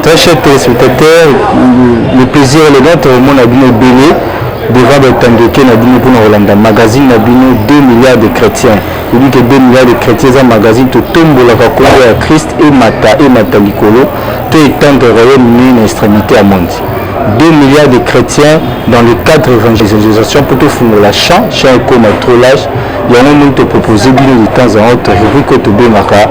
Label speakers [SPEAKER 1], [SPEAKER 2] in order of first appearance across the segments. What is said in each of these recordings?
[SPEAKER 1] Très cher téléspectateurs, le plaisir est le nôtre, au monde a bino ebele devant batandoke na bino mpona kolanda magazine na bino 2 milliards de chrétiens oyebi ke 2 milliards de chrétiens eza magazine totombolaka nkombo ya christ emata emata likolo to etendre royaume nini na extrémité ya monde 2 milliards de chrétiens dans le cadre évangélisation mpo tofungola champ champ ekoma trop lage yango moni topropose bino de temps en autre rubrique oyo tobengaka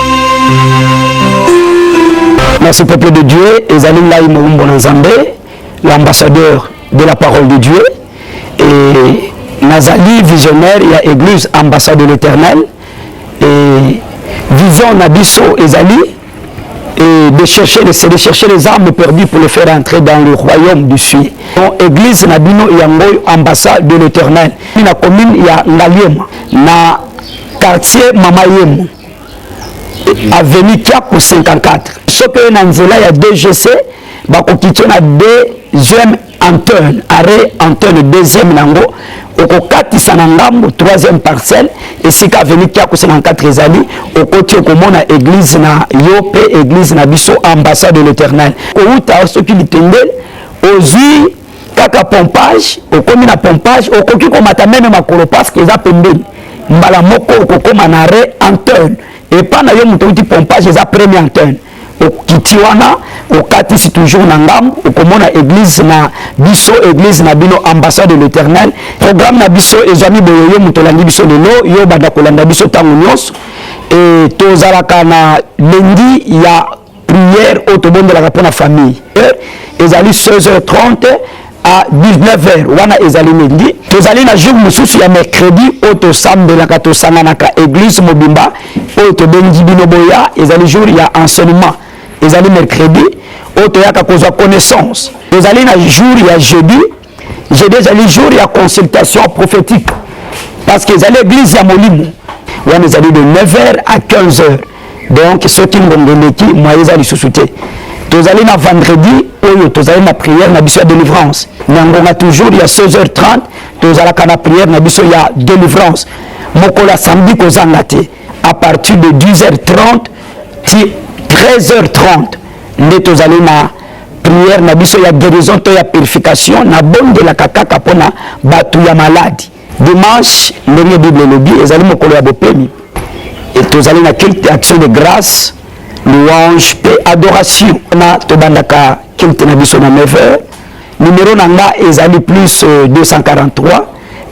[SPEAKER 2] Merci peuple de Dieu, ezali ngai moumbo na Nzambe, l'ambassadeur de la parole de Dieu et nazali visionnaire ya église ambassade de l'Éternel et vision na biso ezali et de chercher, c'est de chercher les armes perdues pour les faire entrer dans le royaume du ciel. Donc, église na bino yango ambassade de l'Éternel. Na commune ya Ngaliema, na quartier Mama Yemo. avenue Kiapu 54 soki oye na nzela ya DGC bakokitio na deuxième antenne arrêt antenne deuxième nango okokatisa na ngambo troisième parcelle esika avenue Kiapu 54 ezali okoti okomona église na yo mpe église na biso ambassade de l'éternel kowuta soki litengeli ozwi kaka pompage okomi na pompage okoki komata meme makolo parceke eza pembeni mbala moko okokoma na re antenne epa na yo moto outi pompage eza premier antenne okiti wana okatisi toujours na ngambo okomona église na biso église na bino ambassade de l'éternel programme na biso ezwami boye yo moto olandi biso lelo yo obanda kolanda biso ntango nyonso e tozalaka na lendi ya prière oyo tobondelaka mpo na famille eh, ezali 16h30 à 19h wana ezali midi tozali na jour mosusu ya mercredi oyo tosambelaka tosanganaka église mobimba oyo tobengi bino boya ezali jour ya enseignement ezali mercredi oyo toyaka kozwa connaissance tozali na jour ya jeudi jeudi ezali jour ya consultation prophétique parce que ezali église ya molimo wana ezali de 9 heures à 15 heures donc soki ngongo eleki moye eza lisusu te tozali na vendredi oyo tozali na prière na biso ya délivrance na ngonga toujours ya 16 heures 30 tozalaka na prière na biso ya délivrance mokolo ya samedi kozanga te à partir de 10 heures 30 ti 13 heures 30 nde tozali na prière na biso ya guérison to ya purification na bondelaka kaka pona batu ya malade dimanche ndenge bible elobi ezali mokolo ya bopemi et tozali na culte action de grâce louange pe adoration na tobandaka culte na biso na 9 heures numero na nga ezali plus 243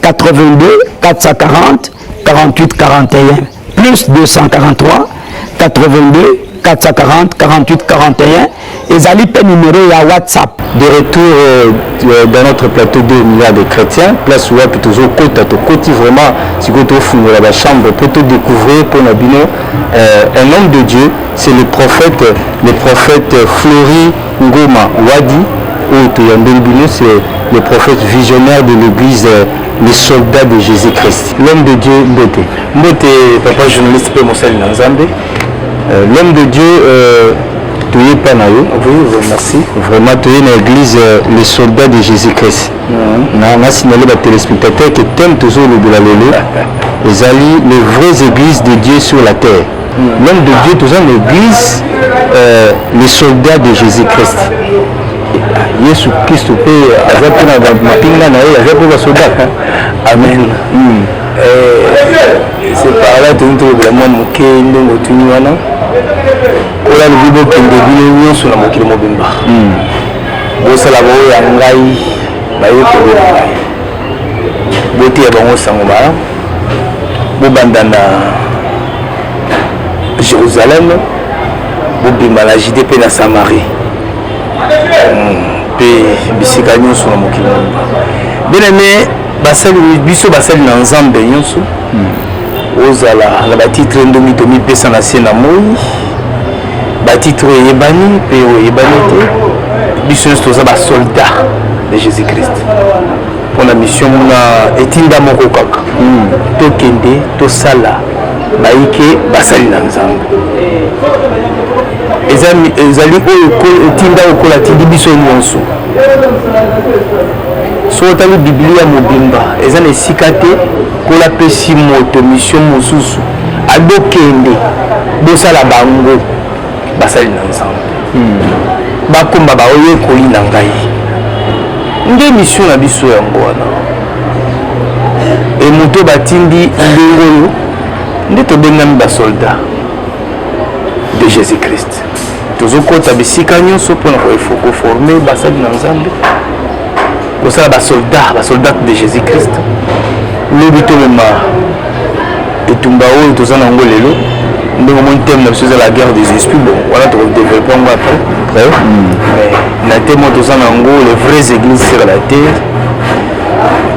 [SPEAKER 2] 82 440 48 41 plus 243 82 440 48 41 ezali mpe numero ya whatsapp de retour
[SPEAKER 1] euh, euh, dans notre plateau 2 milliards de chrétiens place wapi tozokota tokoti vraiment sikoyo tofungola bachambre mpo todécouvrir mpo na bino euh, un homme de dieu c'est le prophète le prophète flori ngoma wadi oyo toyambeli bino c'est le prophète visionnaire de l'église les soldats de jésus christ l'homme de dieu mbete Mbote papa journaliste pe mosali na Nzambe. Euh, l'homme de Dieu euh, toye pa na yo. Oui, oui, merci. Vraiment toye na église euh, les soldats de Jésus-Christ. Mhm. Na na signaler ba téléspectateurs que thème tozo lobela lelo ezali les vraies églises de Dieu sur la terre. Mhm. L'homme de Dieu toza na église euh, les soldats de Jésus-Christ. yesu kristo mpe aza mpe na mapinga na ye aza mpe basoda amen mm. separala toni tolobela mwa moke ndenge otuni wana oyo alobi bokende bino nyonso na mokili mobimba hmm. bosala baoyo ya ngai bayekoli na ngai boteya bango sango malamu bobanda
[SPEAKER 3] na jérusalem bobima na jude mpe na samarie mpe hmm. bisika nyonso na mokili mobimba bien aimé basali biso basali na nzambe nyonso hmm. ozala na batitre ndongi tomipesa na se na moi batitre oyo eyebani mpe oyo eyebani te biso nyonso toza basoldat de jésus christ mpo na mission na etinda moko kaka hmm. tokende tosala bayike basali na nzambe ezali oyo etinda okola tindi biso nyonso Soki otali Biblia mobimba, eza na esika te Nkolo apesi moto misio mosusu abokende bosala bango basali na Nzambe hmm. bakoma baoyekoli na ngai nde misio na biso yango wana e moto batindi ndenge oyo nde tobengami basoldat de Jésus-Christ. tozokota bisika nyonso mpona koforme basali na nzambe kosala basoldat basoldat de jésus christ lobi tomema etumba oyo toza na yango lelo ndenge omoni teme na biso eza la guerre des esprits bon wana tokodeveloppe yango après hmm. na teme oyo toza na yango les vraies églises sur la terre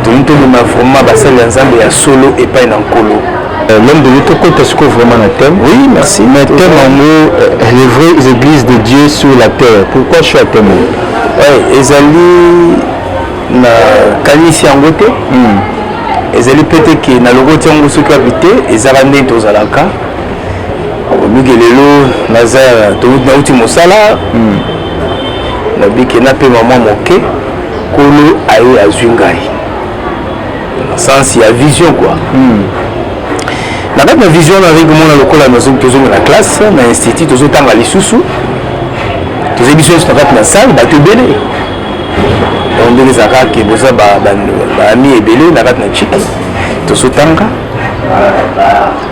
[SPEAKER 3] tolingi tobima vraiment basali ya nzambe ya solo epai na nkolo Euh, l'homme de Dieu
[SPEAKER 1] tokota sikoyo vraiment na thème oui merci mais
[SPEAKER 3] thème yango
[SPEAKER 1] euh, les vraies églises de Dieu sur la terre pourquoi choix thème oui
[SPEAKER 3] ezali na kanisi yango te hmm. ezali mpe te ke na lokoti yango soki abi te ezalaka ndenge tozalaka oluki lelo naza nauti mosala hmm. nabike napema mwa moke kolo aye azwi ngai sens ya vision quoi hmm. na kati na vision nazali komona lokola tozonga na classe na institut tozotanga lisusu tozali biso nyonso na kati na salle bato ebele yango ndenge ezalaka ke boza baami ebele na kati na chik tozotanga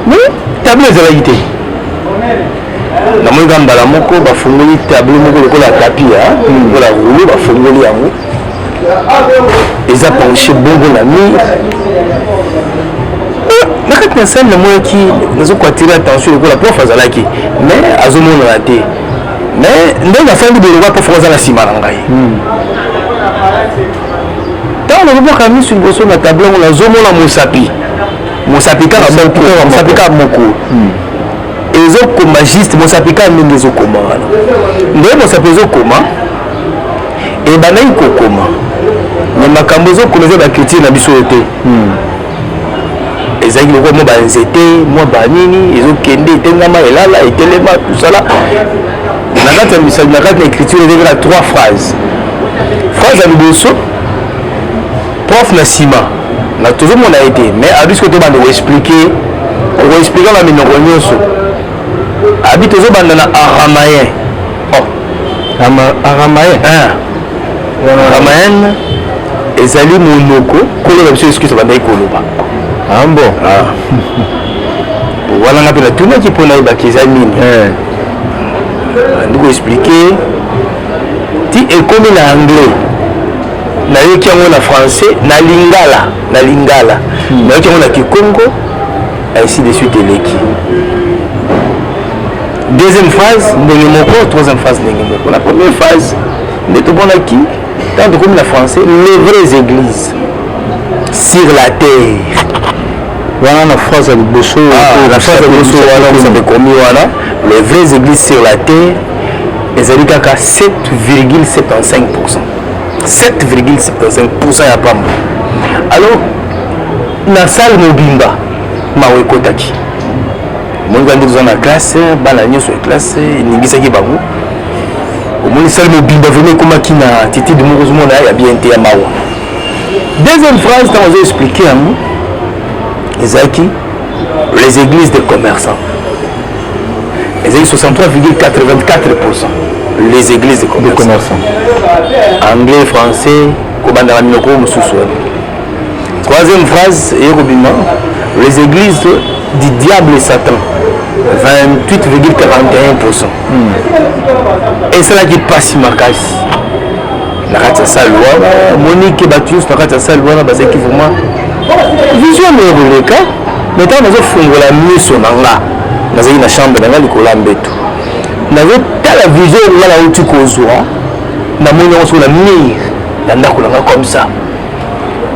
[SPEAKER 3] me tableau ezalaki te namoni kaka mbala moko bafungoli tableau moko lokola tapi lokola rulo bafungoli yango eza penche bongo na mi na kati na sale namonaki nazokwatire attention lokola prof azalaki mais azomonana te mais ndenge afandi boye lokola prof aza na nsima na ngai ntango hmm. nazobwaka miso liboso na tablo yango nazomona mosapi mosapi kaka moko mosapi kaka moko hmm. ezokoma juste mosapi kaka ndenge ezokoma wana ndenge mosapi ezokoma ebandaki kokoma me makambo ezokoma eza baculture na biso oyo te hmm. ezalaki lokola mwa banzete mwa banini ezokende etengama elala etelema tosala na kati ya misali na kati na écriture ezalaki na trois phrase phrase ya liboso prof na nsima na tozomona ye te mais abisko tobanda koexplike okoexplike na minoko nyonso Abi tozo banda na aramayen. Oh. Ama aramayen. Hein. Aramayen ezali monoko kolo na biso Yesu Kristo bandaki koloba. Ah
[SPEAKER 1] bon.
[SPEAKER 3] Ah. Wana ngapi na tunaki mpo nayebaki eza nini. Eh. Ndiko expliquer ti ekomi na anglais nayoki yango na français na lingala na lingala hmm. nayoki yango na kikongo ainsi de suite eleki deuxième phase ndenge moko troisième phase ndenge moko na première phase nde tomonaki ntango tokomi na français les vraies églises sur la terre wana
[SPEAKER 1] na phrase ya liboso ah, na phrase ya liboso
[SPEAKER 3] wana ekomi wana les vraies églises sur la terre ezali kaka 7,75 7,75 ya pamba alors Na salle mobimba mawa ekotaki. Omoni bandi toza na classe, bana nyonso ya classe eningisaki bango. Omoni salle mobimba vraiment ekomaki na attitude moko ozomona ya bien te ya mawa. Deuxième phrase ntango azo expliquer yango ezalaki les églises des commerçants ezali 63,84 les églises de commerçants anglais français kobandaka minoko mosusu wana Troisième phrase eye kobima les églises du diable satan 28,41 pourcent hmm. esalaki mpasi makasi na kati ya sale wana omoni ke bato nyonso na kati ya sale wana bazalaki vraiment vision moye koleka mai ntango nazofungola miso na nga nazalaki na chambre na nga likolo ya mbeto nazotala vision oyo nga nauti kozwa namoni yango soko na mire ya ndako na nga comme ça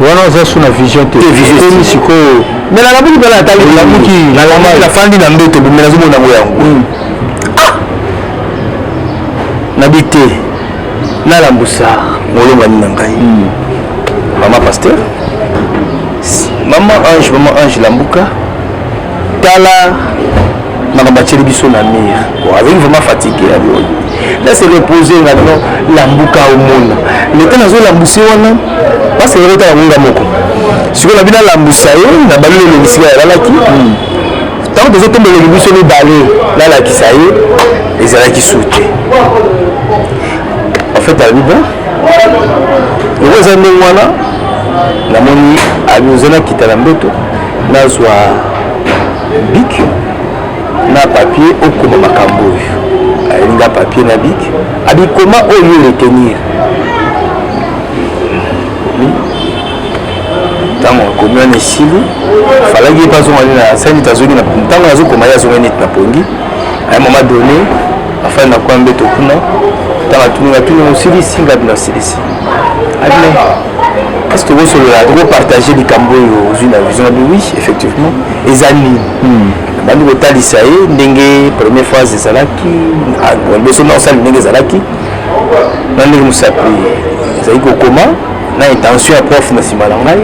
[SPEAKER 3] wana
[SPEAKER 1] oza su na vision te ekomi sikoyo me nalamuki mpela
[SPEAKER 3] atalilamuki nafandi na mbeto bombe nazomona yango yango hmm. ah! nabi te nalambusa molongani na ngai hmm. mama paster mama ange mama ange lambuka tala makambo atyeli biso na mire azali vraiment fatigue ya boye na se repose nga no lambuka omona leta nazolambuse wana basi eloko ta yangonga moko sikoyo nabi nalambusa ye na bali lolobisi nga yalalaki ntango tozotombeleli biso mibale nalakisa ye ezalaki su te en fait alobi bon yango eza ndenge wana namoni abioza nakita na mbeto nazwa bik na papier okoma makambo oyo ayelinga papier na bik abikoma oyo retenir ntango akomi wana esili falaki ye mpe azonga nde na sani tazongi ntango nazokoma ye azonga neti na pongi a un moment donné afandi na kwa mbeto kuna ntango atuni atuni osilisi ngabi nasilisi abina est-ce que bosolola toko partage likambo oyo ozwi na vision abi oui effectivement eza nini hmm. bandi kotalisa ye ndenge première phase ezalaki liboso na osali ndenge ezalaki na ndenge mosapi ezali kokoma na intention ya prof na nsima na ngai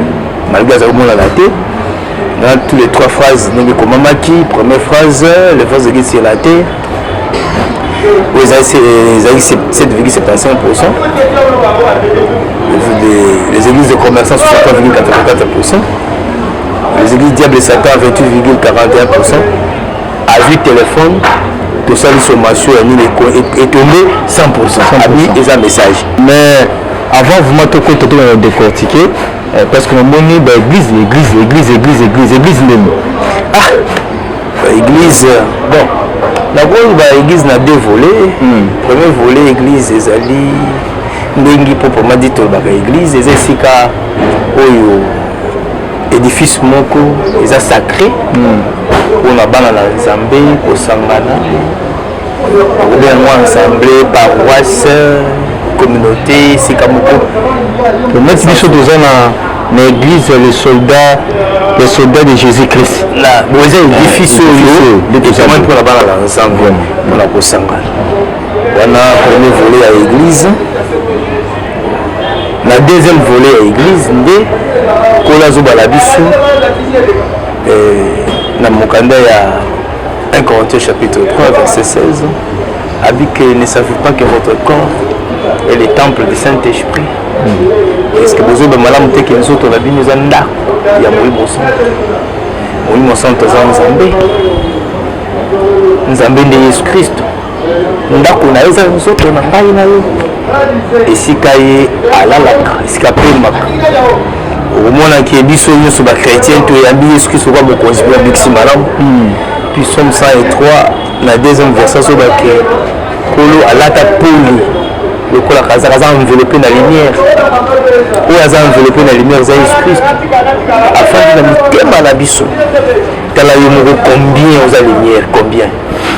[SPEAKER 3] malgré azali komonana te na tous les trois phrases ndenge ekomamaki première phrase le phrase ekesela te oyo ezalaki 7,75 pourcent les églises de commerçants 63,84 pourcent les églises diable satan 28,41 pourcent azwi telefone tosali sommation ya nini etombe 100 pourcent abi eza message mais
[SPEAKER 1] avant vraiment tokota tokenda na décortique eh, parce que namoni baeglise église église église église église ndeni ah
[SPEAKER 3] Église, bon, nakoki ba église na deux volets. Mm. Premier volet église ezali ndenge mpo poma dit tolobaka église eza esika oyo édifice moko eza sacré mpona hmm. bana na nzambe kosangana okomi yango ensemble paroisse communauté esika moko omati
[SPEAKER 1] biso toza na na église ya le soldat le soldat de jésus christ bon eza
[SPEAKER 3] edifice oyo etamani mpona bana na nzambe mpona kosangana wana premier volet ya église na deuxième volet ya église nde kola azobala biso eh, na mokanda ya 1 Corinthiens chapitre 3 verset 16 a dit que ne savez pas que votre corps est le temple du Saint-Esprit. Mm. Est-ce que vous avez malamu te que nous autres la bino eza ndako ya Molimo Santo. Molimo Santo aza Nzambe. Nzambe nde Yesu Kristo. ndako na ye eza nzoto na ngai na ye esika ye alalaka esika apemaka okomonaki ye biso nyonso bachrétien toyambi yesu kristo kwa mokonzi mpe abikisi malamu hmm. puis somme 103 na deuxième verset soki bake kolo alata poli lokola kazaka aza enveloppe na lumière oyo aza enveloppe na lumière eza yesu kristo afandi na mitema na biso tala yo moko combien oza lumière combien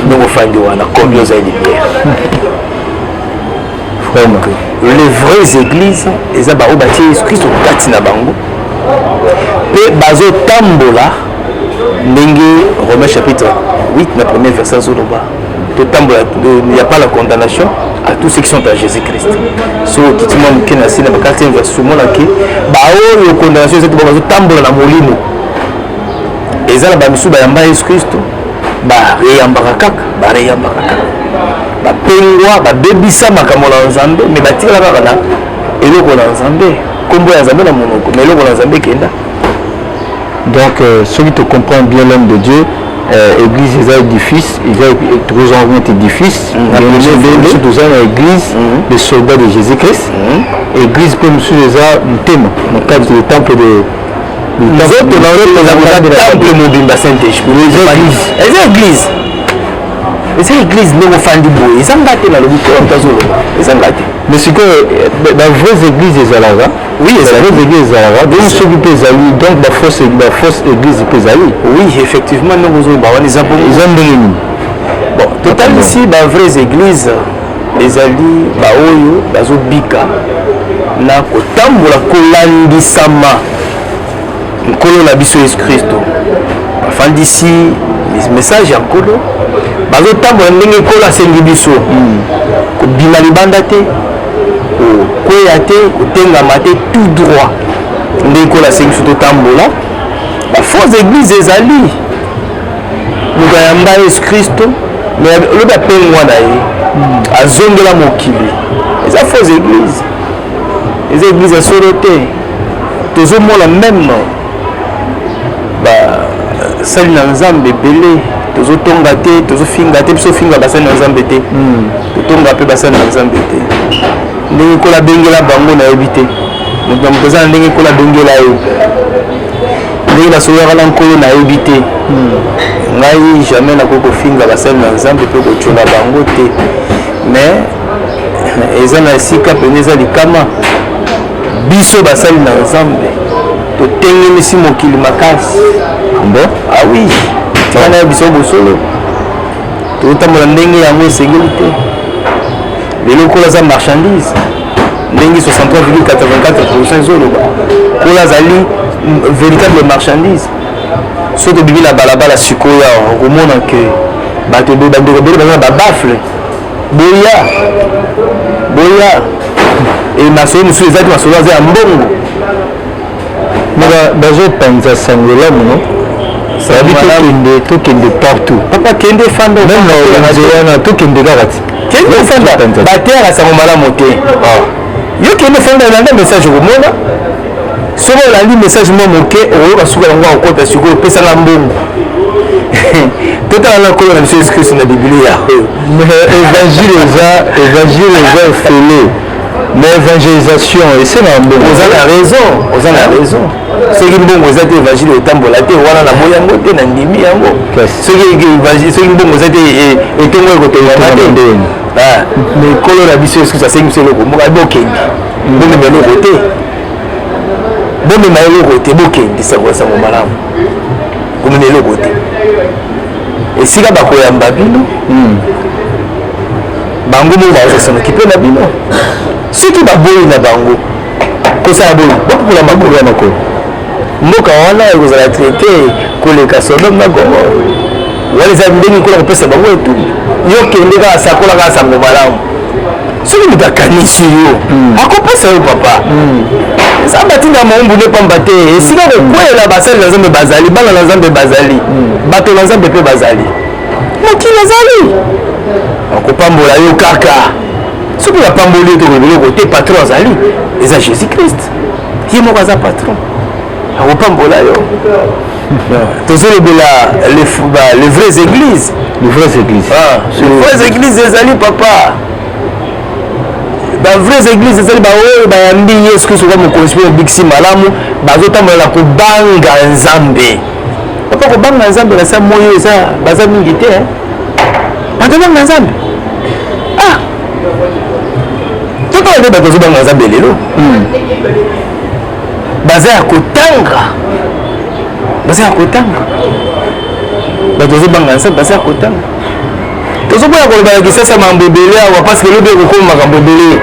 [SPEAKER 3] ndongo fandi wana komi oza libere donc les vraies églises eza baoyo batie yesu kristo kati na bango mpe bazotambola ndenge romain chapitre 8 na premier verset azoloba totambola ya pas la condamnation à tous ceux qui sont à jésus christ so okiti mwa moke na se na bakartie verse omonaki baoyo condamnation eza te bazotambola na molimo eza na bamisusu bayamba yesu kristo bareyambaka kaka bareyambaka kaka bapengwa babebisa makambo na nzambe me batikala kaka na eloko na nzambe nkombo ya nzambe na monoko na eloko na nzambe ekenda
[SPEAKER 1] donc euh, soki tocomprend bien l'homme de dieu euh, église eza édifice eza tokoki zonga kuna te édifice biso toza na église mm-hmm. le soldat de jésus christ mm-hmm. église mpe mosusu eza motema na cadre le temple de nzoto na yo eza temple mobimba saint esprit eza église eza église ndenge ofandi boye eza nga te nalobi te moto azoloba eza nga te mais sikoyo ba vraies églises ezalaka oui ezali
[SPEAKER 3] église ezalaka
[SPEAKER 1] donc soki mpe ezali donc ba fausse ba fausse église mpe ezali oui effectivement
[SPEAKER 3] ndenge ozoloba wana eza bongo eza ndenge nini
[SPEAKER 1] bon
[SPEAKER 3] totalisi ba vraies églises ezali baoyo bazobika na kotambola kolandisama nkolo na biso yesu kristo bafandisi message ya nkolo bazotambola ndenge nkolo asengi biso hmm. kobima libanda te kokweya te kotengama te tout droit ndenge nkolo asengi biso totambola bafausse église ezali moto ayamba yesu kristo me lobi apengwa na ye hmm. azongela mokili eza faux église eza église ya solo te tozomona meme basali na nzambe ebele tozotonga te tozofinga te biso ofinga basali na nzambe te hmm. totonga mpe basali na nzambe te ndenge kola bengela bango nayebi te moto na moto aza na ndenge kola bengela ye ndenge nasololaka na nkolo nayebi te hmm. ngai jamais nakoki kofinga basali na nzambe mpe kotyola bango te mais eza na esika mpenza eza likama biso basali na nzambe totengemisi mokili makasi bo
[SPEAKER 1] awi ah
[SPEAKER 3] tika na biso bosolo totambola ndenge yango esengeli te lelo okola aza marchandise ndenge 63,84 ezoloba oyo azali véritable marchandise soki obimi na balabala sikoyo awa okomona ke bato ebele bandeko ebele baza na babafle boya boya e masolo mosusu ezalaki masolo aza ya mbongo
[SPEAKER 1] bazopanza sango elamu no sabi tokende tokende partout papa kende fanda
[SPEAKER 3] meme na wenze wana
[SPEAKER 1] tokende kaka ti kende fanda
[SPEAKER 3] bateyaka sango malamu te ah. yo kende fanda olanda message okomona soki olandi message mwa moke okoyoka suka yango akokota sikoyo opesaka mbongo totala na nkolo na biso yesu kristo na biblia oyo evangile
[SPEAKER 1] eza evangile eza ofele mais évangélisation esengaka mbongo oza na raison
[SPEAKER 3] oza na raison soki mbongo eza te évangile etambola te wana na boyi yango te na ndimi yango soki mbongo eza te etongo ekotongama te mais kolo na biso yesu kristo asengi biso eloko moko ayebi okende bomema eloko te bomema eloko te bokende sango sango malamu komema eloko te esika bakoyamba bino hmm. bango moko baza s'en occuper na bino soki baboyi na bango kosala boye bokokula makolo ya makolo mboka wana ekozala traite koleka sodome na gomore wana eza ndenge nkola kopesa bango etuni yo kende kaka sakola kaka sango malamu soki moto akanisi yo hmm. akopesa yo papa hmm. eza batinda maumbu nde pamba te esika hmm. kokwelela basali na nzambe bazali bana na nzambe bazali bato na nzambe mpe bazali mokili ezali akopambola yo kaka soki napamboli ete biloko te patron azali eza jésus christ ye moko aza patron akopambola yo tozolobela les vraies églises les vraies églises ah, les vraies églises ezali papa bavrais église ezali baoyo bayambi yesu kristo kaka mokonzi mpe mobikisi malamu bazotambola na kobanga nzambe papa kobanga nzambe na sa moyo eza baza mingi te eh. batobanga nzambe ah totala nde bato ozobanga nzambe lelo hmm. baza ya kotanga baza ya kotanga bato ozobanga nzambe baza ya kotanga tozokoya koloba na kisasa mambo ebele awa parce que lobi ekokoma makambo ebele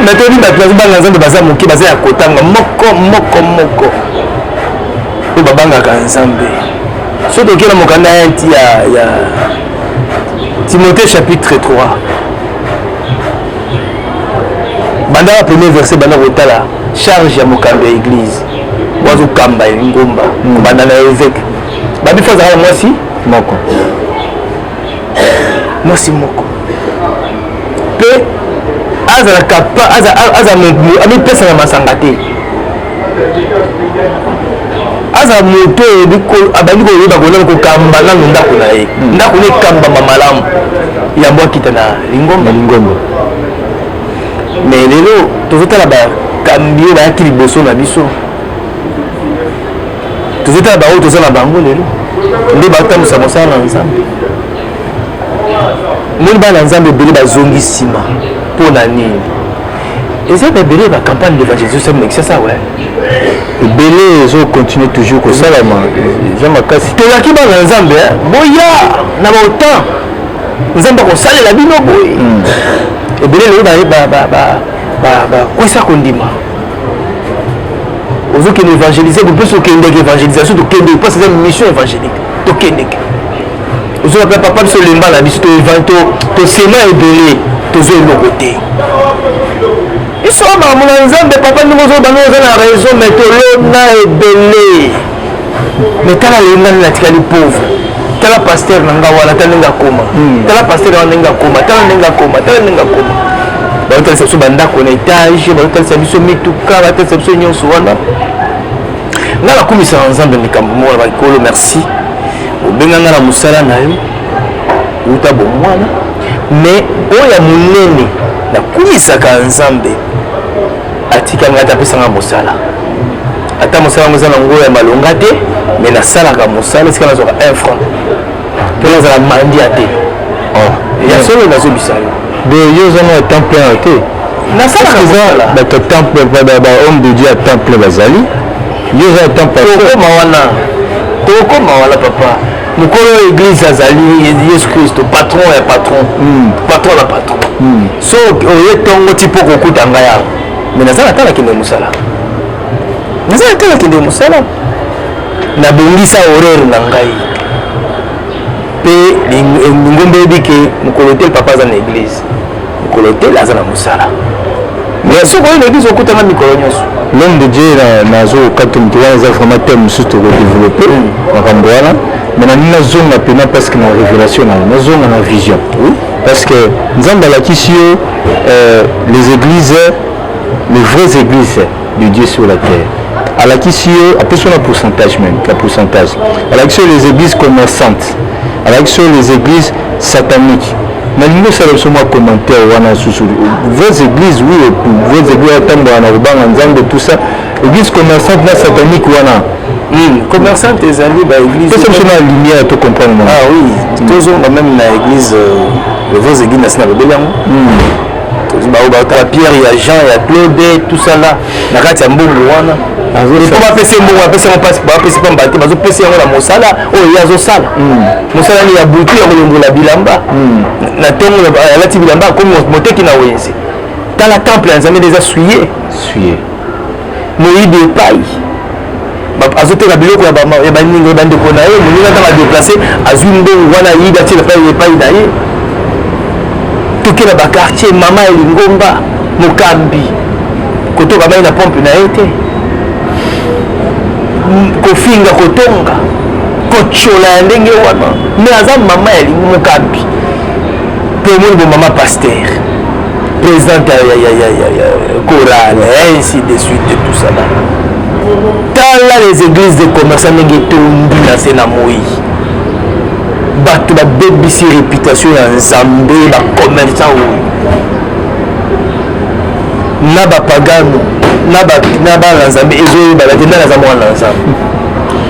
[SPEAKER 3] mais toyebi bato bazobanga nzambe baza moke baza ya kotanga moko moko moko oyo babangaka nzambe soki tokela mokanda ya nti ya ya timothée chapitre 3 banda ba premier verset banda kotala charge ya mokambi ya église wazokamba ye ngomba kobanda na eveke babifa azalaka mwasi moko mwasi moko mpe azalaka amipesa na masanga te aza moto oyo abandi koyeba kolala kokamba nanu ndako na ye hmm. ndako na ekambama malamu yango akita na lingomba lingomba mais lelo tozotala bakambi oyo bayaki liboso na biso tozotala baoyo toza na bango lelo nde batambwisa mosala na nzambe moni bana na nzambe ebele bazongi nsima mpo na nini eza na ebele ba campagne de évangélisation mais ça ça ouais ebele
[SPEAKER 1] ezo continue toujours kosalama eza makasi tolaki bana na nzambe
[SPEAKER 3] boya na baotan nzambe akosalela bino boye hmm. ebele lelo bakwesa kondima ozokende évangélise bopeso okendeke évangélisation tokendeke mpasi eza mission évangélique tokendeke ozoka mpe papa biso lemba na biso tosema ebele tozo eloko te biso bamona nzambe papa ndenge ozobanga oza na raison me tolona ebele mais tala lelo nani natikali pauvre tala pasteur na nga wana tala ndenge akoma hmm. tala pasteur na wana ndenge akoma tala ndenge akoma tala ndenge akoma baotalisa biso bandako na etage baotalisa biso mituka batalisa biso nyonso wana nga nakumisaka nzambe likambo moko na bakolo merci obenga nga na mosala na yo uta bomwana mais oyo ya monene nakumisaka nzambe Atika nga te apesa nga mosala. Ata mosala yango eza na ngo ya malonga te, mais nasalaka mosala esika nazwaka 1 franc. Mpo nazala mandia te. Oh. Ya solo nazobisa yo. De yo ozanga ya temps plein te. Nasalaka mosala. Bato temps plein, ba homme de Dieu ya temps plein bazali. Yo oza ya temps plein. Tokoma wana. Tokoma wana papa. mokolo ya eglise azali yesu kristo patron ya patron hmm. patron na patron hmm. so oye tongo ti mpo kokuta ngai awa me naza na tala kende mosala naza na tala kende mosala nabongisa horaire na ngai mpe lingomba eyebi ke mokolo te papa aza na eglize mokolo te aza na mosala mais soki oyo na eglize okutanga mikolo nyonso l'homme de dieu
[SPEAKER 1] nazokaki moto wana eza vraiment teme mosusu tokodeveloppe hmm. makambo wana mais nalingi nazonga mpena parce que na révélation nayo nazonga na vision oui Parce que Nzambe alakisi yo euh, les églises, les vraies églises de Dieu sur la terre. Alakisi yo apesi na pourcentage même, la pourcentage. Alakisi yo les églises commerçantes. Alakisi yo les églises sataniques. nalingi osala biso mwa commentaire wana susu vos églises oui vos églises atambola na kobanga nzambe tout ça église commerçante na satanique wana Hmm, commerçante
[SPEAKER 3] ezali ba église pesa biso na lumière
[SPEAKER 1] to comprendre mwa ah oui hmm.
[SPEAKER 3] tozonga même na église euh, le vos église nasi na lobeli yango hmm. baoyo baotala pierre ya jean ya claude tout ça là na kati ya mbongo wana po bapesi ye mbongo bapesi yango mpasi bapesi mpamba te bazopesa yango na mosala oyo ye azosala mosala ni ya butu ya kolongola bilamba na ntongo alati bilamba akomi moteki na wenze tala temple ya nzambe nde eza suye moyibi epai azoteka biloko ya baninga bandeko na ye moninga ntango adeplace azwi mbongo wana ayibi atyela epai na ye toke na bakartier mama ya lingomba mokambi kotoka mai na pompe na ye te kofinga kotonga kotyola ya ndenge wana me aza mama ya mokambi mpe omoni bomama pastere Présidente ya ya ya ya ya chorale ainsi de suite et tout ça là. Tala les églises de commerçants ndenge etondi na se na moi. Bato babebisi réputation ya Nzambe ba commerçants oyo na bapagano na bana nzambe ezoyebana te nde naza mwana na nzambe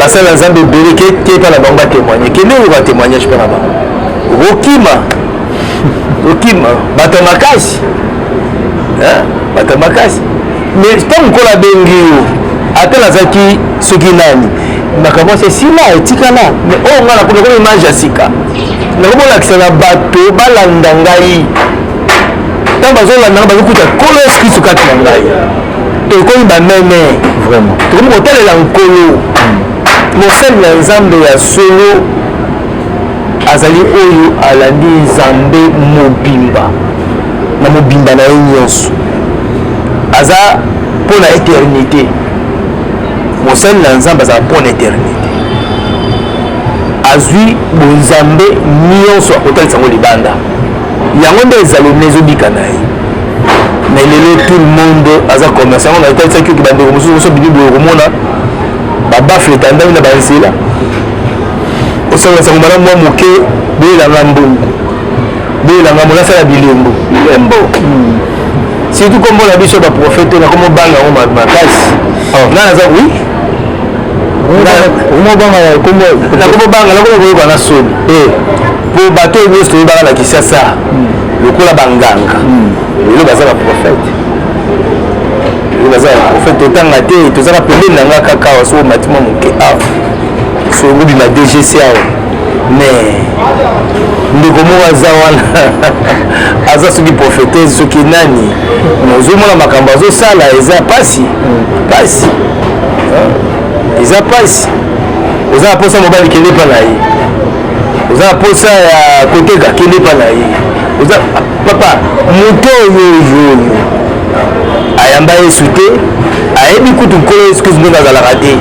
[SPEAKER 3] basali na nzambe ebele keke mpa na bango batémoigne kende oyo batémoignage mpa na bango okima okima bato ya makasi bato ya makasi mais ntango nkolo abengi yo ata nazalaki soki nani makambo asi esila etikala mais oyo oh, ngai nakomi nakomi image ya sika nakomi olakisa na bato balanda ngai ntango bazolanda ngai bazokuta nkolo yesu kristu kati na ngai tokomi bameme vraiment tokomi
[SPEAKER 1] kotalela
[SPEAKER 3] nkolo mosali na nzambe ya solo azali oyo alandi nzambe mobimba na mobimba na ye nyonso aza mpo na eternité mosali na nzambe azala mpo na eternité azwi bonzambe nyonso akotalisa yango libanda yango nde ezali na ezobika na ye mais lelo tout le monde aza commerce yango natalisaki oki bandeko mosusu mosusu bini boye okomona babafle etandami na banzela osangola sango malamu mwa moke boyelanga mbongo boyelanga mbongo asala bilembo bilembo hmm. surtout kombo na biso baprofete nakomobanga yango makasi oh. nga naza wi nakomobanga nakomokoyoka na soni eh. po bato oyo nyonso toyebaka na kisasa lokola banganga lelo baza baprofete lelo baza baprofete totanga te tozaka pembeni na nga kaka awa soko omati mwa moke awa soki obima dgc awa mais ndeko moko aza wana aza soki profetese soki nani ozomona makambo azosala eza mpasi mpasi eza mpasi oza na mposa mobali kende epa na ye oza na posa ya koteka kende epa na ye oza papa moto oyo oyo ayamba yesu te ayebi kutu nkolo yesu kristu ndenge azalaka te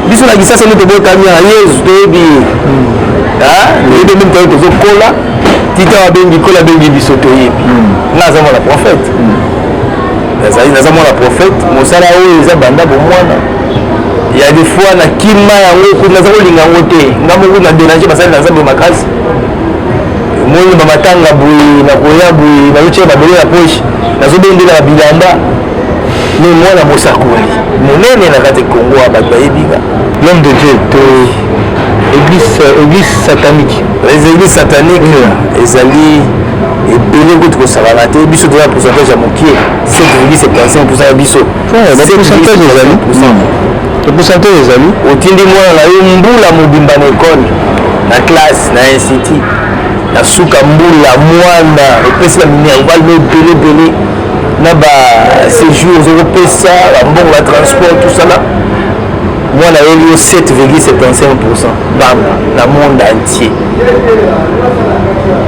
[SPEAKER 3] biso na kisasa nde tobotami ya yesu toyebi ye toyebi meme toyo tozokola tita babengi kola bengi biso toyebi hmm. nga aza mwana prophète hmm. nazali naza mwana prophète mosala oyo eza banda bomwana ya des fois na kima yango kutu naza kolinga yango te nga moko na dérange basali na nzambe makasi moni bamatanga boye nakoya boye nazotia babele na poche nazobendela na bilamba me mwana mosakoli monene na kati kongo ya bato bayebika l'homme de dieu
[SPEAKER 1] to église église satanique les églises
[SPEAKER 3] satanique mm. ezali ebele kutu kosakana te biso toza pourcentage ya mokie 7,75 ya biso pourcentage ezali
[SPEAKER 1] pourcentage ezali otindi mwana na yo
[SPEAKER 3] mbula mobimba na ekole na classe na institut na suka mbula mwana opesi ba minerval no ebele ebele na ba séjour ozokopesa bambongo ba transport tosala mwana ayeli yo 7,75 pourcent banga na monde entier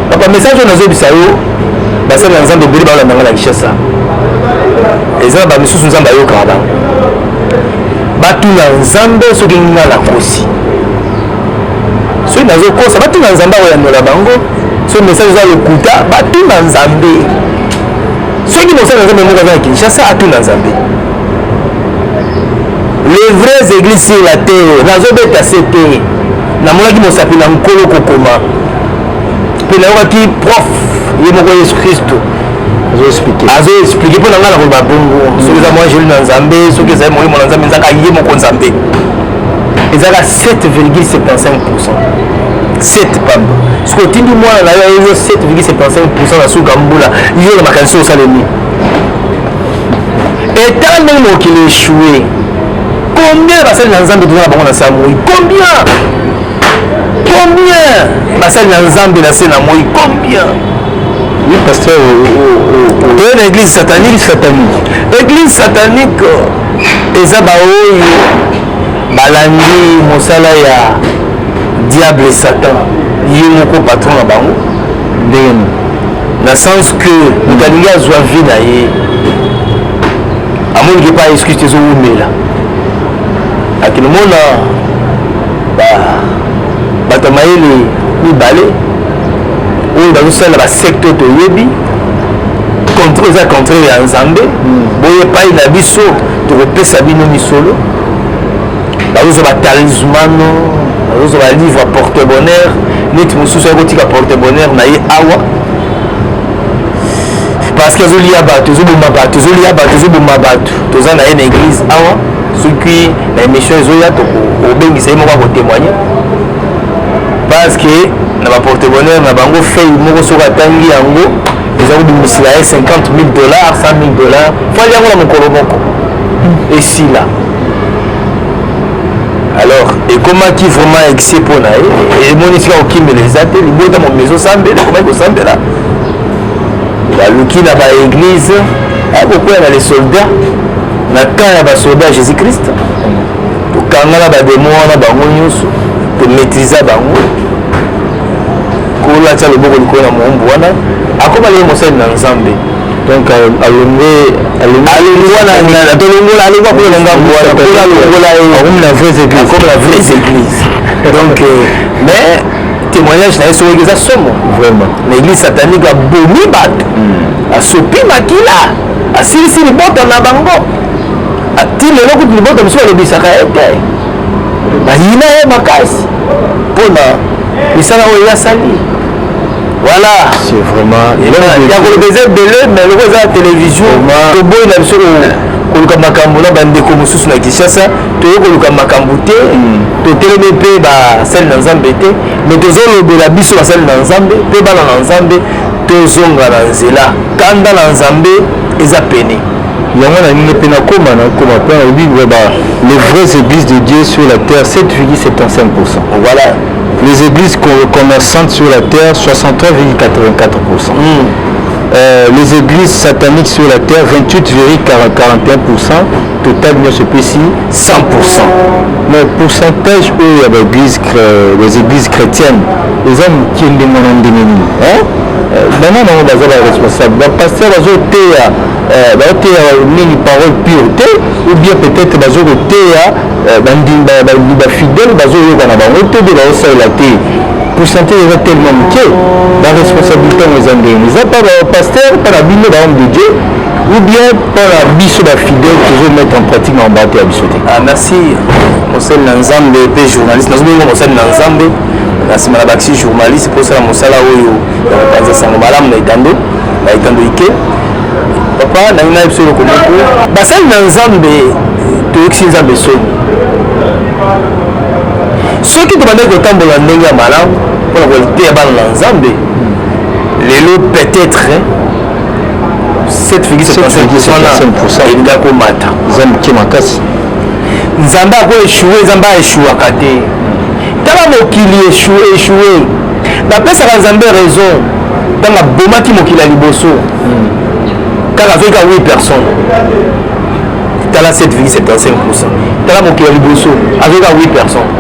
[SPEAKER 3] papa message oyo nazobisa yo basali na nzambe ebele balanda nga na kinshasa eza na bamisusu nzambe ayokaka bango batuna nzambe soki nga nakosi soki nazokosa batuna nzambe akoyanola bango soki message eza lokuta batuna nzambe soki mosali na nzambe moko aza na kinshasa atuna nzambe les vraies églises sur la terre nazobeta se te namonaki mosapi na nkolo kokoma mpe nayokaki prof ye moko yesu kristo azo explike mpo na ngai nakoloba bongo soki eza mwa jeli na nzambe soki ezali molimo na nzambe ezaka ye moko nzambe ezaka 7,75 pourcent 7 pamba soki otindi mwana na yo ayeyo 7,75 pourcent na suka mbula yo na makanisi osalemi etala ndenge mokili echoue combien basali na nzambe toza na bango na saa moi combien combien basali na nzambe na se na moi combien oui
[SPEAKER 1] pasteur toye
[SPEAKER 3] na église satanique satanique église satanique eza baoyo balandi mosala ya diable satan ye moko patron na bango ndenge na sens que moto alingi azwa vie na ye amoniki epai excuse te ezowumela akende mona ba bato ya mayele mibale oyo bazosalela basekte toyebi contraire eza contraire ya nzambe hmm. boye epai na biso tokopesa bino misolo bazozwa batalismano bazozwa balivre porte bonheur neti mosusu akotika porte bonheur na ye awa parce que ezolia bato ezoboma bato ezolia bato ezoboma bato toza na ye na eglise awa soki na émission ezoya obengisa ye moko akotémoigne parce que na baporte-bonheur na bango fei moko soki atangi yango eza kobimisela ye 50 000 dollars 100 000 dollars fali yango na mokolo moko esila alors ekomaki vraiment excès mpo na ye emonisi ka kokimela eza te libota momi ezosambela ekomaki kosambela baluki na ba eglise akokwela na les soldats na camp ya basoda ya jésus christ tokangana bademo wana bango nyonso tomaîtrisa bango kolo atya loboko likolo na moombu wana akoma leye mosali na nzambe donc
[SPEAKER 1] euh, alongue alongwa
[SPEAKER 3] na nana tolongola alongwa mpo na ngambo wana mpo alongola ye
[SPEAKER 1] akomi na vraies église akomi na
[SPEAKER 3] vraies église donc euh, mais témoignage na ye soki eza somo vraiment na église satanique abomi bato hmm. asopi makila asilisi libota na bango ti lelo kutu libota mosusu balobisaka ye te bayina ye makasi mpo na misala oyo yasali voilà c'est
[SPEAKER 1] vraiment ya koloba eza
[SPEAKER 3] ebele mais loko eza na télévision toboyi na biso koluka makambo na bandeko mosusu na kinshasa toye koluka makambo te totelemi mpe basali na nzambe te me tozolobela biso basali na nzambe mpe bana na nzambe tozonga na nzela kanda na nzambe eza pene yango na nini
[SPEAKER 1] mpe nakoma nakoma mpe nalobi vraiba les vraies églises de dieu sur la terre 7,75 pourcent
[SPEAKER 3] voilà les
[SPEAKER 1] églises commerçantes sur la terre 63,84 pourcent mm. euh, les églises sataniques sur la terre 28,41 pourcent total nyonso epesi 100 pourcent mais pourcentage oyo ya baeglise les églises chrétiennes eza moke ndenge na ndenge nini euh, bana nango baza baresponsable bapaster bazoteya euh, baoteya nini parole pure te ou bien peut-être bazo koteya euh, bafidèle bazoyoka na bango te de baosalela te pourcentage eza tellement moke baresponsabilité yango eza ndenge eza mpa bapaster mpa na bino bahomme de dieu ou bien mpona biso bafidèle tozo mettre en pratique na mabala te ya biso te ah, merci
[SPEAKER 3] mosali na nzambe mpe journaliste nazobenga mosali na nzambe na nsima na bakisi journaliste mpo osala mosala oyo ya kopanza sango malamu na etando na etando ike papa nangi na biso eloko moko basali na nzambe toyokisi nzambe soni soki tobandaki kotambola ndenge ya malamu mpona koteya bana na nzambe lelo peut-être 7,7% komata eza moke makasi
[SPEAKER 1] nzambe
[SPEAKER 3] ako echoue nzambe aechouaka te tala mokili echoue echoue napesaka nzambe raison ntango abomaki mokili ya liboso hmm. kaka azoki ka 8 personnes tala 7,75 tala mokili ya liboso azoki ka 8 personnes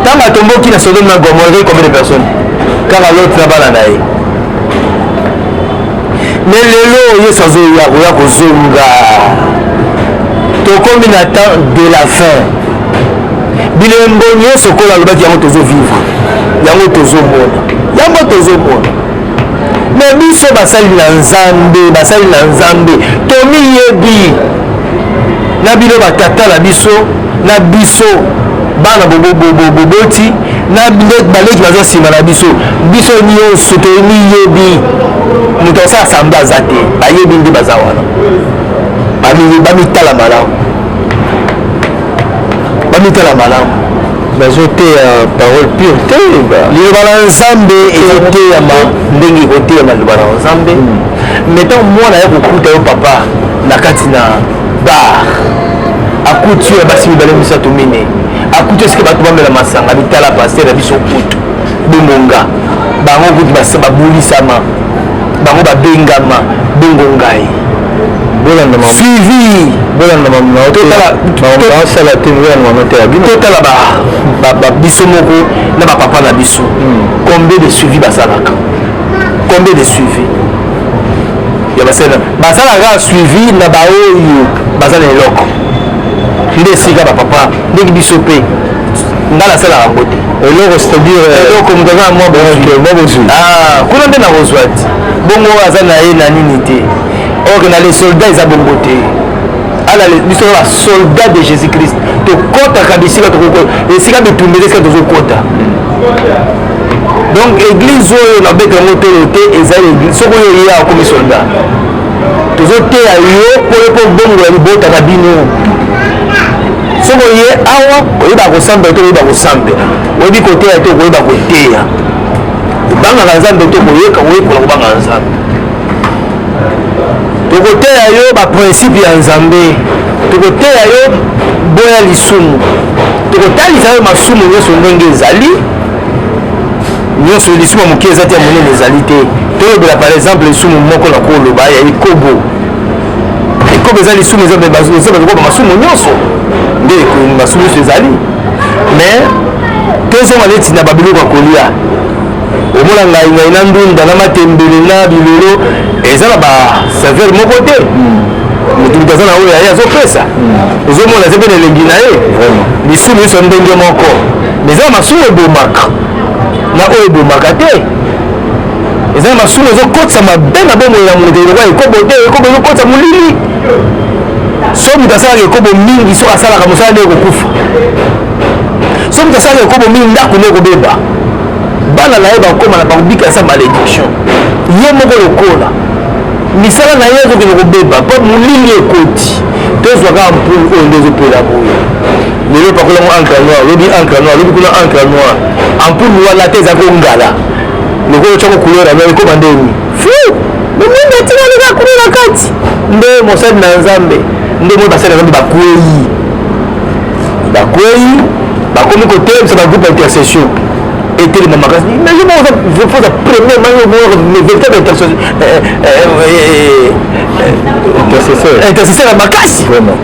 [SPEAKER 3] ntango atomboki na sodome na gomore combien de personnes kaka lot na bana na ye me lelo yesu azoya koya kozonga tokomi na temps de la fin bilembo nyonso okola alobaki yango tozovivre yango tozomona yango tozomona me biso basali na nzambe basali na nzambe tomiyebi na bino batata na biso na biso bana boboti na baleki baza nsima na biso biso nyonso tomiyebi moto asala samba aza te bayebi nde baza wana bamitala malamu bamitala malamu
[SPEAKER 1] bazoteya parole pure te liloba na
[SPEAKER 3] nzambe ezoteyama ndenge ekoteyama liloba na nzambe metan hmm. mwana ya kokuta yo papa na kati na bar akuti ya basi mibale misato minei akuti esike bato bamela masanga mitala paster na biso kutu bongonga bango kutu babulisama bango babengama bongo ngai suivi totala biso moko na bapapa na biso hmm. combien de suivi basalaka combien de suivi ya basena basalaka suivi na baoyo baza na eloko nde esika bapapa ndenge biso mpe nga nasalaka yango te eloko c'est-à-dire
[SPEAKER 1] euh, eloko moto aza na mwa
[SPEAKER 3] bozwi ah, kuna nde nakozwa te bongo aza na ye na nini te or na les soldats eza bongo te ala biso na basoldat de jésus christ tokɔtaka bisika tokoki esika bitumba eza esika tozokɔta hmm. donc eglise oyo nabeta yango tolo te eza soki oyo ye akomi soldat tozoteya yo mpo yo mpo obongola libota na bino soki oye awa oyeba kosambela te oyeba kosambela oyebi koteya te okoyeba koteya kobangaka nzambe te koyeka koyekola kobangaka nzambe tokoteya yo baprincipe ya nzambe tokoteya yo boya lisumu tokotalisa yo masumu nyonso ndenge ezali nyonso lisumu ya moke eza te ya monene ezali te tolobela par exemple lisumu moko na koloba ya ekobo ekobo eza lisumu eza bakoba masumu nyonso nde masumu nyonso ezali mais tozonga neti na babiloko ya kolia omona ngai ngai na ndunda na matembele na bilolo eza na basaveur moko te moto moto aza na oyo ya ye azopesa ozomona aza mpe na elengi na ye lisumu nyonso ndenge moko eza na masumu ebomaka na oyo ebomaka te eza na masumu ezokotisa mabe na bomoi ya moto lokola ekobo te ekobo ezokotisa molili so moto asalaka ekobo mingi soki asalaka mosala nde ekokufa so moto asalaka ekobo mingi ndako nde ekobeba bana na ye bakoma na bakobika sa malediction ye moko lokola misala na ye ezokende kobeba mpo molili ekoti tozwa kaka mpulu oyo nde ezopela boye lelo pakola ngo encre noir lobi encre noir lobi kuna encre noir ampoule wana te eza kongala lokola otya ko couleur yango ekoma ndeni fou momondo atika leka kuna na kati nde mosali na nzambe nde moi basali na nzambe bakwei bakwei bakomi kotelemisa bagroupe ya intercession etelema makasi mais yo moko oza premier mango véritable intercesseur ya makasi vraiment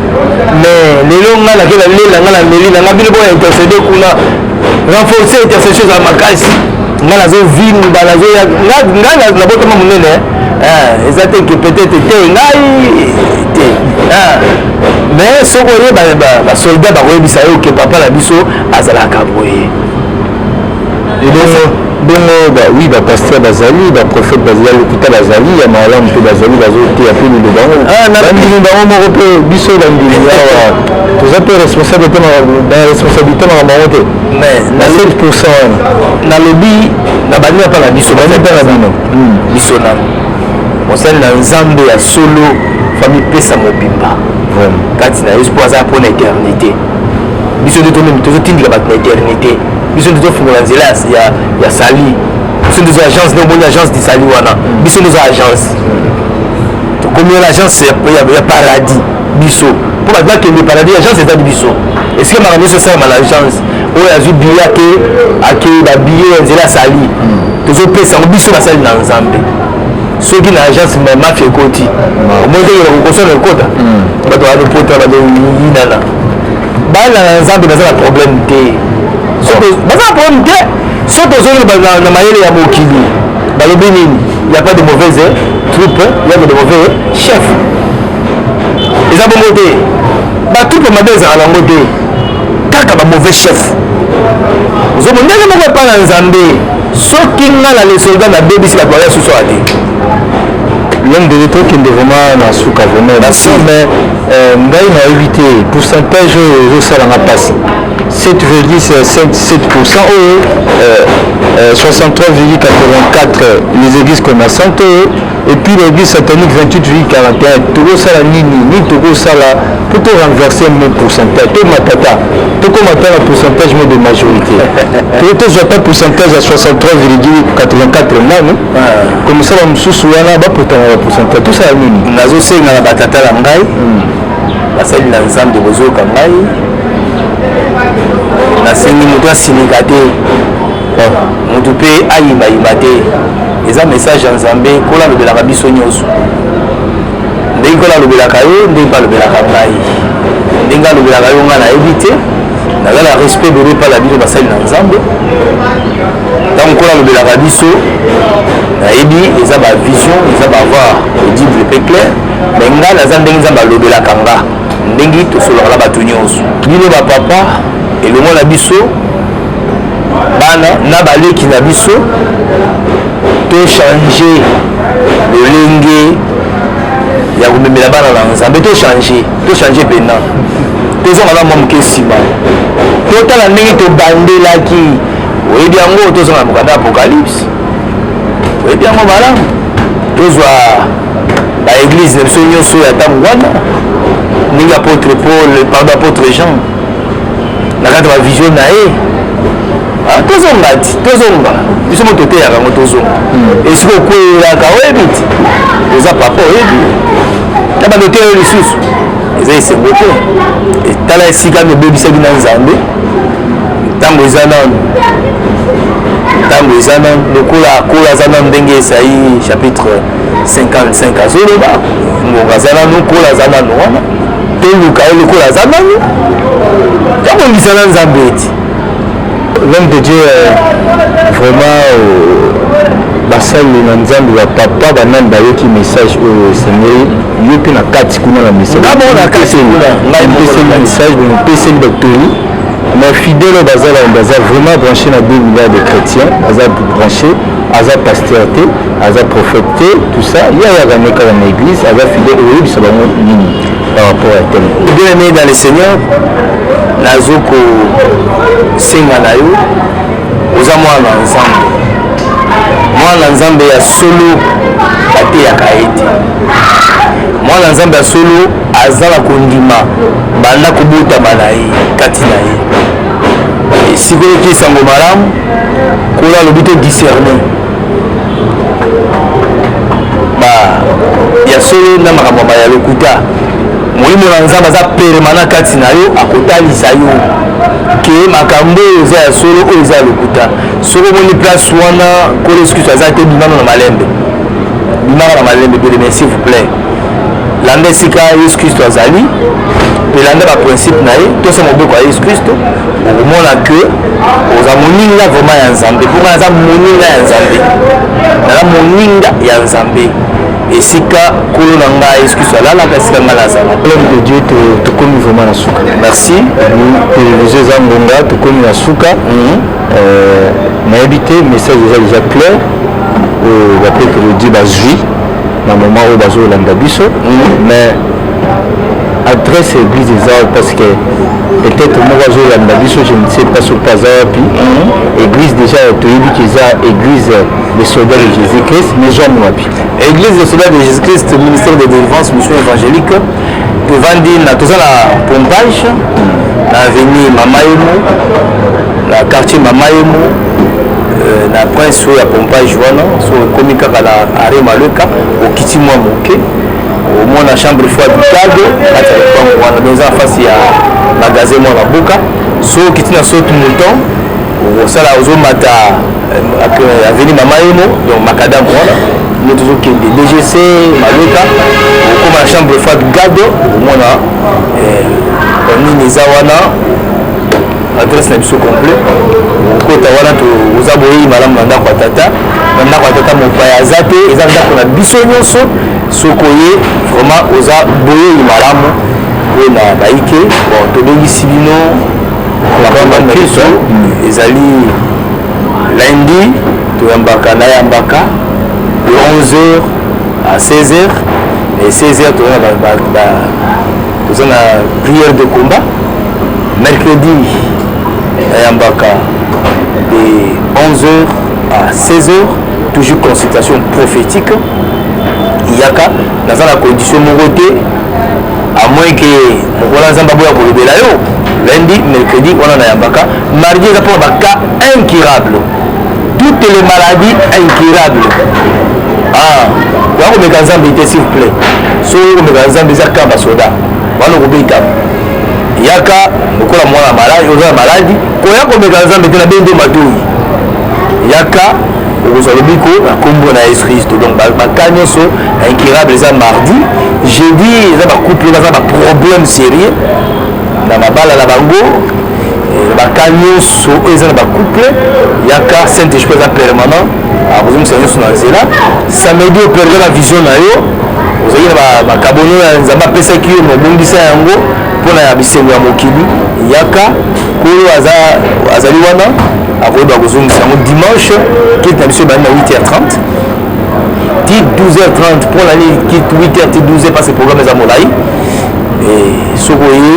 [SPEAKER 3] mais lelo nga nake na lela nga na meli na nga bino boya intercede kuna renforcer intercession eza makasi nga nazovimba nazoya nga nabotama monene eh, eza te ke peut-être te ngai te eh. mais soki oye basoldat bakoyebisa yo ke papa na biso azalaka boye ebongo
[SPEAKER 1] bongo ba, oui bapasteur bazali baprophète bazali lokuta bazali ya malamu mpe bazali bazoteya mpe liloba yango ah, bandimi bango moko mpe biso bandimi awa toza mpe responsable te na responsabilité makambo yango te na 7 pourcent wana nalobi
[SPEAKER 3] na bandi mpe na biso bandi mpe na bino hmm. biso na mosali na nzambe ya solo fami pesa mobimba kati na yesu mpo aza mpo na eternité biso nde tomemi tozotindika bato na eternité biso nde tofungola nzela ya sali biso nde toza agence nde omoni agence du sali wana biso nde oza agence tokomi wana agence ya paradis biso mpo bato bakende paradis agence etali biso esika makambo nyonso esalama na agence oyo azwi biye ake ake babiye ya nzela asali tozopesa yango biso basali na nzambe soki na agence ma mafia ekoti omoni ndenge bakokosana ekota hmm. bato balopota bazoyinana bana na nzambe baza na problème te baza na problème te soki tozongi na mayele ya mokili balobi nini ya pas de mauvaise troupe ya de mauvais chef eza bongo te batroupe mabe ezala nango te kaka ba mauvais chef ozomona ndenge moko epai na nzambe soki nga na le soldat na bebisi bato baya susu ate
[SPEAKER 1] l'homme de l'état kende vraiment na suka vraiment merci mais euh, ngai nayebi te pourcentage oyo ezosalanga mpasi 7,7% oyo 63,84 les églises commerçantes oyo Et puis l'église satanique 28 vie caractère, tokosala nini nini tokosala mpo to renverser mo pourcentage to matata tokoma ata na pourcentage mo de majorité to tozwa ata pourcentage ya 63,84 nani komisala mosusu wana bapotana na pourcentage tosala nini nazosenga na batata
[SPEAKER 3] na ngai hmm. basali na nzambe bozoyoka ngai nasengi moto asilika te moto mpe ayimbayimba te eza message ya nzambe kola alobelaka biso nyonso ndenge kola alobelaka yo ndenge mpe alobelaka ngai ndenge alobelaka yo ngai nayebi te naza na respect bebe epai na bino basali na nzambe ntango kola alobelaka biso nayebi eza bavision eza bavoi audible mpe clair me ngai naza ndenge nzambe alobelaka nga ndenge tosolaka na bato nyonso bino bapapa elongo na biso bana na baleki na biso tochange lolenge ya komemela bana na nzambe tochange tochange mpena tozonga na mwa moke nsima totala ndenge tobandelaki oyebi yango tozonga na mokanda apocalypse oyebi yango malamu tozwa baeglize na biso nyonso ya ntango wana ndenge apotre paul pardon apotre jean na kati ya bavisio na ye ah, tozonga ti tozonga biso mo toteyaka yango tozonga hmm. esika okweyelaka oyebi ti oza papa oyebi na bando te oyo lisusu eza esengo te etala esika mibebisaki na nzambe ntango eza nano ntango eza nano lokola akola aza nano ndenge esai chapitre 55 azoloba ngongo aza nanu kola aza nanu wana toluka ye lokola aza nanu tobongisa na nzambe eti l'homme
[SPEAKER 1] de dieu euh, vraiment euh, basali na nzambe bapapa banani bayoki message oyo esengeli yo mpe na kati kuna na message bopeseli batoli mais fidèle oyo baza baza vraiment branché na 2 milliard de chrétiens aza branché aza pasteur te aza prophète te tout ça ye ayaka nde kaka na église aza fidèle oyebisa bango nini par rapport ya tel bien aimé dans le seigneur
[SPEAKER 3] nazo kosenga na yo oza mwana ya nzambe mwana ya nzambe ya solo bateyaka ye te mwana ya nzambe ya solo aza na kondima banda kobotama na ye kati na ye sikoyo kiesango malamu kola alobi to discerne ba ya solo na makambo ba ya lokuta molimo na nzambe aza permana kati na yo akotalisa yo ke makambo oyo eza ya solo oyo eza ya lokuta soki omoni place wana kolo esukiso aza te bimano na malembe bimaka na malembe pele mais s'il vous plaît landa esika yesu kristo azali mpe landa baprincipe na ye tosa mobeko ya yesu kristo okomona ke oza moninga vraiment ya nzambe mpo ngai naza moninga ya nzambe naza moninga ya nzambe esika kolo na ngai yesu kristo alalaka esika ngai nazala homme de dieu
[SPEAKER 1] tokomi vraiment na suka merci
[SPEAKER 3] televizio
[SPEAKER 1] eza ngonga tokomi na suka mhm. euh, nayebi te message eza deja clair oyo euh, bapetelo di bazwi na moma oyo bazolanda biso mm. mais adresse ya église eza parce que peut-être moko azolanda biso je ne sais pas soki aza wapi mm. église déjà toyebi kiza église de soldat de jésus christ mais jame wapi église de soldat de
[SPEAKER 3] jésus christ ministère de délivrance mission évangélique tovandi na toza na pompage mm. na avenue mama yemo na quartier mama yemo euh, na prince oyo ya pompage wana so ekomi kaka na arre maleka okiti mwa moke omona chambre fo abitado kati ya lopango wana donc eza na fasi ya magasin mwa babuka so okiti na saute mouton osala ozomata euh, aveni mama yemo donc makadam wana nde tozokende dgc maleka okoma na chambre fo abigado omona euh, nini eza wana adresse na biso complet okota wana oza boyeyi malamu na ndako ya tata na ndako ya tata mopaya aza te eza ndako na biso nyonso soki oye vraiment oza boyeyi malamu mpo na baike bon tobengisi bino bakristo hmm. ezali lundi toyambaka nayambaka de 11 heures à 16 heures et 16 heures toyona toza na prière de combat mercredi ayambaka de 11h à 16h toujours consultation prophétique yaka naza na condition moko te à moins que mokola nzambe aboya kolobela yo lundi mercredi wana nayambaka mardi eza mpona baka incurable toutes les maladies incurables ah ya komeka nzambe te s'il vous plaît soki okomeka nzambe eza kaka basoda wana okobetama yaka lokola mwana maladi oza na maladi koya komeka nzambe te na bende matoyi yaka okozwa lobiko na nkombo na yesu kristo donc baka nyonso na incurable eza mardi jeudi eza bacouple baza baproblème sérieux na mabala na bango ba cas nyonso oyo eza na ba couple ya cas saint esprit eza permanent akozongisa nyonso na nzela samedi operde na vision na yo ozali na bakabono ya nzambe apesaki yo mobongisa yango mpona ya bisengo ya mokili yaka oyo azali wana akoyeba kozongisa yango dimanche kiti na biso ebandi na 8h30 ti 12h30 mpona nini kit 8h ti 12h mpasi programme eza molai soki oye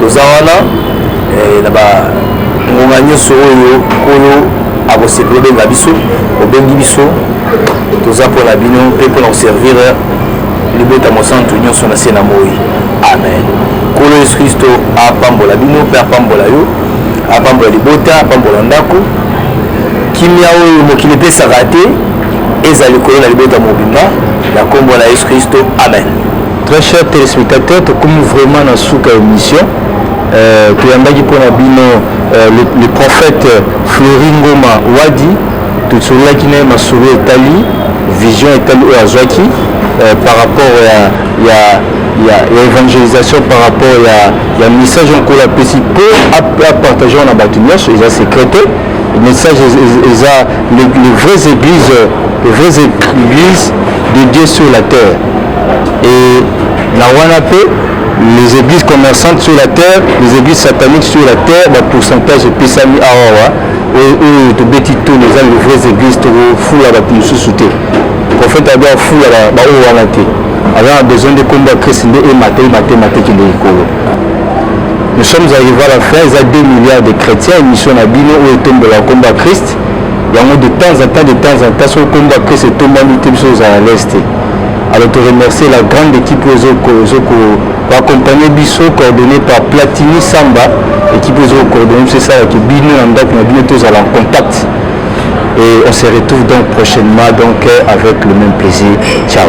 [SPEAKER 3] toza wana eh, na bangonga nyonso oyo nkolo akosepela obenga biso obengi biso toza mpo na bino mpe mpo na koservir libota mosantu nyonso na se na moi amen nkolo yesu kristo apambola bino mpe apambola yo apambola libota apambola ndako kimia oyo mokili epesaka te ezala likolo na libota mobimba na nkombo na yesu kristo amen Très cher
[SPEAKER 1] téléspectateur, tokomi vraiment na suka émission. Euh, toyambaki mpo na bino euh, le, le prophète Fleury Ngoma Wadi tosololaki na ye masolo etali vision etali oyo azwaki euh, par rapport ya, ya, ya, ya évangélisation par rapport ya, ya message oyo nkolo apesi mpo apartage na bato nyonso eza secret te message eza les vraies églises les vraies églises de Dieu sur la terre Et na wana pe les églises commerçantes sur la terre, les églises sataniques sur la terre, ba pourcentage epesami awa wa oyo tobeti toni eza les vraies églises tokofula bato mosusu te prophète ado afula baoyo wana te aza na besoin nde nkombo ya krist nde emata emata emata ekende likolo nous sommes arrivé à la fin eza 2 milliards de chrétiens émission na bino oyo etombola nkombo ya krist yango de temps en temps de temps en temps soki nkombo ya krist etombami te biso ozala leste Alors to remercier la grande équipe oyo ezo ko accompagner biso coordonné par Platini Samba équipe ezo ko coordonner biso esalaki bino na ndako na bino tozala en contact et on se retrouve donc prochainement donc avec le même plaisir ciao